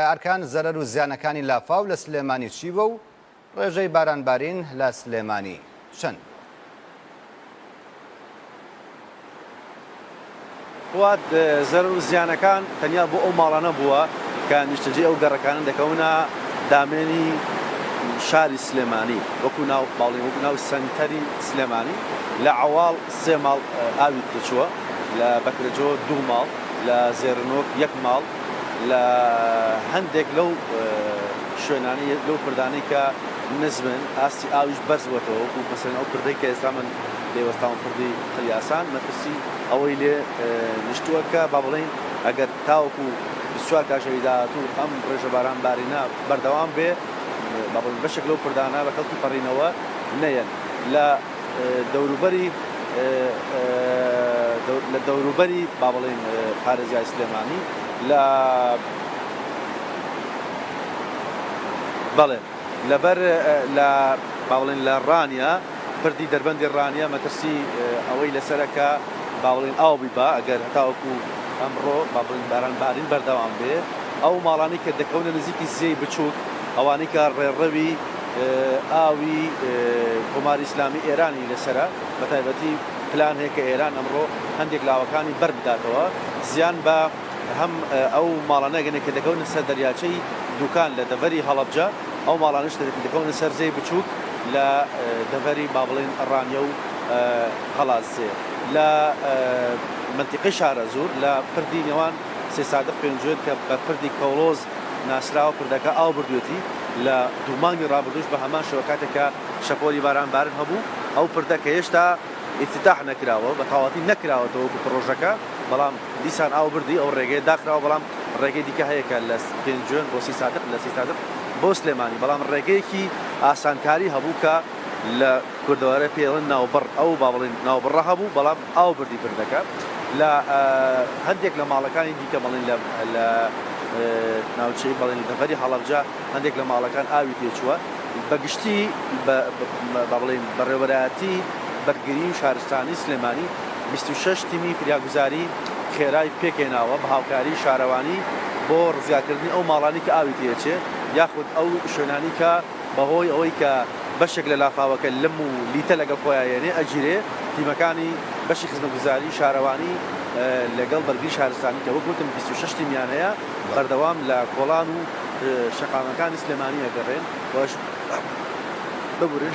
ئەرکان، زەرەر و زیانەکانی لافاو لە سلێمانی چی بووە و ڕێژەی بارانبارین لە سلێمانی چەند بووە؟ فواد، زەرەر و زیانەکان تەنیا بۆ ئەو ماڵانە بووە کە نیشتەجێی ئەو گەڕەکانەن دەکەونە دامێنی شاری سلێمانی، وەکو ناو باڵی وەکو ناو سەنتەری سلێمانی لە عەواڵ سێ ماڵ ئاوی تێچووە، لە بەکرەجۆ دوو ماڵ، لە زێرنۆک یەک ماڵ، لە هەندێک لەو شوێنانەی لەو پردانەی کە نزمن ئاستی ئاویش بەرز بووەتەوە وەکو مەسەلەن ئەو پردەی کە ئێستا من لێ وەستاوم پردی قلیاسان مەترسی ئەوەی لێ نیشتووە کە با بڵێین ئەگەر تاوەکو 24 کاژێری داهاتوو ئەم ڕێژە باران بارینە بەردەوام بێ با بڵێین بەشێک لەو پردانە بە کەڵکی پەڕینەوە نەیەن لە دەوروبەری لە دەوروبەری با بڵێین پارێزگای سلێمانی لە بەڵێ لەبەر لە با بڵێین لە ڕانیە پردی دەربەندی ڕانیە مەترسی ئەوەی لەسەرەکە با بڵێین ئاو بیبا ئەگەر هەتاوەکو ئەمڕۆ با بڵێین باران بارین بەردەوام بێ ئەو ماڵانی کە دەکەونە نزیکی زێی بچووک ئەوانەی کە ڕێڕەوی ئاوی کۆماری ئیسلامی ئێرانی لەسەرە، بەتایبەتی پلان هەیە کە ئێران ئەمڕۆ هەندێک لاوەکانی بەر بداتەوە، زیان بە هەم ئەو ماڵانە ئەگەنێت کە دەکەونە سەر دەریاچەی دوکان لە دەڤەری هەڵەبجە، ئەو ماڵانەش کە دەکەونە سەر زێی بچووک لە دەڤەری با بڵێین ڕانیە و قەڵادزێ لە مەنتیقەی شارەزوور لە پردی نێوان سێسادق پێنجوێن کە بە پردی کەوڵۆز ناسراوە پردەکە ئاو بردوێتی، لە دوو مانگی ڕابردووش بە هەمان شێوە کاتێک کە شەپۆلی باران بارن هەبوو، ئەو پردە کە هێشتا ئیفتیتاح نەکراوە بە تەواوەتی نەکراوەتەوە وەکو پڕۆژەکە بەڵام دیسان ئاو بردی ئەو ڕێگەیە داخراوە بەڵام ڕێگەی دیکە هەیە کە لە پێنجوێن بۆ سی سادق لە سی سادق بۆ سلێمانی بەڵام ڕێگەیەکی ئاسانکاری هەبوو کە لە کوردەوارێ پێی ئەڵێن ناوبڕ ئەو با بڵێین ناوبڕە هەبوو بەڵام ئاو بردی بردەکە لە هەندێک لە ماڵەکانی دیکە بەڵێن لە ناوچەی بەڵێن دەڤەری هەڵەبجە هەندێک لە ماڵەکان ئاوی تێچووە بەگشتی بەڵێن بەڕێوەراتی بەرگری و شارستانی سلێمانی 26 تیمی فریاگوزاری خێرای پێکێناوە بە هاوکاری شارەوانی بۆ ڕزیاکردنی ئەو ماڵانی کە ئاوی تێچێ یاخود ئەو شوێنانی کە بەهۆی ئەوەی کە بەشێک لە لافاوەکە لم و لیتە لەگەڵ خۆیان یەنێ ئەگیرێ، تیمەکانی بەشی خزمەتگوزاری شارەوانی لەگەڵ بەرگری شارستانی کە وەک وتم بیست و شەش تیمیان هەیە بەردەوام لە کۆڵان و شەقامەکانی سلێمانی ئەگەڕێن و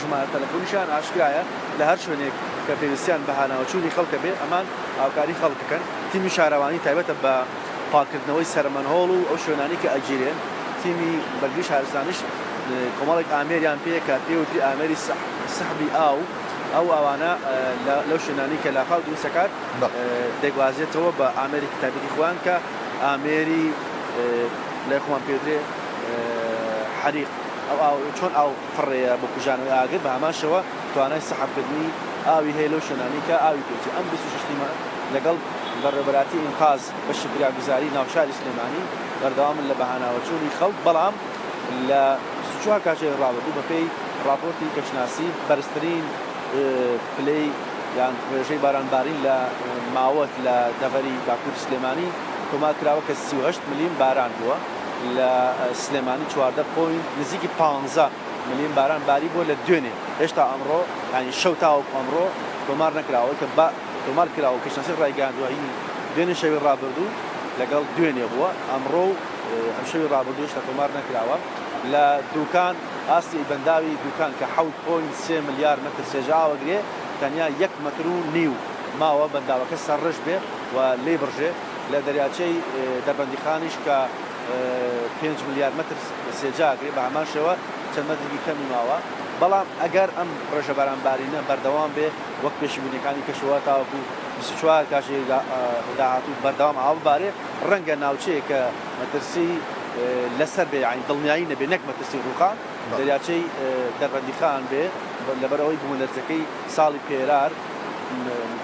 ژمارە تەلەفۆنیشیان ئاشکرایە لە هەر شوێنێک کە پێویستیان بە هاناوەچوونی خەڵکە بێ ئەمان هاوکاری خەڵک دەکەن. تیمی شارەوانی تایبەتە بە. پاککردنەوەی سەرمەنهۆڵ و ئەو شوێنانەی کە ئەگیرێن، تیمی بەرگری شارستانیش کۆمەڵێک ئامێریان پێیە کە پێی وتری ئامێری سحبی ئاو، ئەو ئاوانە لەو شوێنانەی کە لافاو دروست دەکات دەگوازێتەوە بە ئامێرێکی تایبەتی خۆیان کە ئامێری لای خۆمان پێی وترێ حەریق، ئەو ئاو چۆن ئاو. فڕێیە بۆ کوژانەوەی ئاگر، بە هەمان شێوە توانای سەحەبکردنی ئاوی هەیە لەو شوێنانەی کە ئاوی پێ چوو. ئەم بیست و شەش تیمە لەگەڵ بەڕێوەبەرایەتی ئینقاز بەشی فریاگوزاری ناوشاری سلێمانی بەردەوامن لە بەهاناوەچوونی خەڵک، بەڵام لە بیست و چوار کاتژێری ڕابردوو بەپێی ڕاپۆرتی کەشناسی بەرزترین پلەی یان ڕێژەی بارانبارین لە ماوەت لە دەڤەری باکووری سلێمانی تۆمارکراوە کە سی و هەشت ملیم باران بووە. لە سلێمانی چواردە پۆینت نزیکی پانزە ملم باران باری بووە لە دوێنێ هێشتا ئەمڕۆ یانی شەو تاوەکو ئەمڕۆ تۆمار نەکرا ئەوەی کە با تۆمار کرا و کەشناسی ڕایگەیاندووە هی دوێنێ شەوی ڕابردوو لەگەڵ دوێنێ بووە ئەمڕۆ و ئەم شەوی ڕابردوو هێشتا تۆمار نەکراوە لە دووکان ئاستی بەنداوی دووکان کە حەوت پۆینت سێ ملیار مەتر سێژە ئاوەگرێ تەنیا یەک مەتر و نیو ماوە بەنداوەکە سەرڕژ بێ و لێی بڕژێ لە دەریاچەی دەربەندیخانیش کە پێنج ملیار مەتر سێجا ئەگرێت بە هەمان شێوە چەند مەترێکی کەمی ماوە، بەڵام ئەگەر ئەم ڕێژە بارانبارینە بەردەوام بێ وەک پێشینبینیەکانی کەشوهەوا تاوەکو بیست و چوار کاژێری داهاتوو بەردەوام ئاو ببارێ ڕەنگە ناوچەیەک کە مەترسی لەسەر بێ یانی دڵنیایی نەبێ نەک مەترسی ڕووخان دەریاچەی دەربەندیخان بێ لەبەرئەوەی بومەلەرزەکەی ساڵی پێرار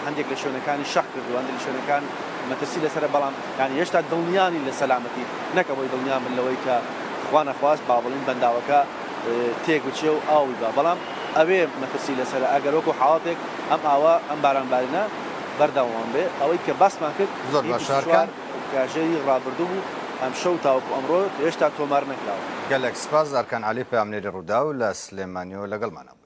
هەندێک لە شوێنەکانی شەق کردووە، هەندێک لە شوێنەکان مەترسی لەسەرە، بەڵام یانی هێشتا دڵنیا نین لە سەلامەتی، نەک ئەوەی دڵنیان بن لەوەی کە خوا نەخواست با بڵێین بەنداوەکە تێک بچێ و ئاوی با، بەڵام ئەوێ مەترسی لەسەرە ئەگەر وەکو حاڵەتێک ئەم ئاوە، ئەم بارانبارینە بەردەوام بێ. ئەوەی کە باسمان کرد هی بیست و چوار کاژێری ڕابردوو بوو، ئەمشەو تاوەکو ئەمڕۆ هێشتا تۆمار نەکراوە. گەلەک سپاس ئەرکان عەلی پەیامنێری ڕووداو لە سلێمانیەوە لەگەڵمانە بووی.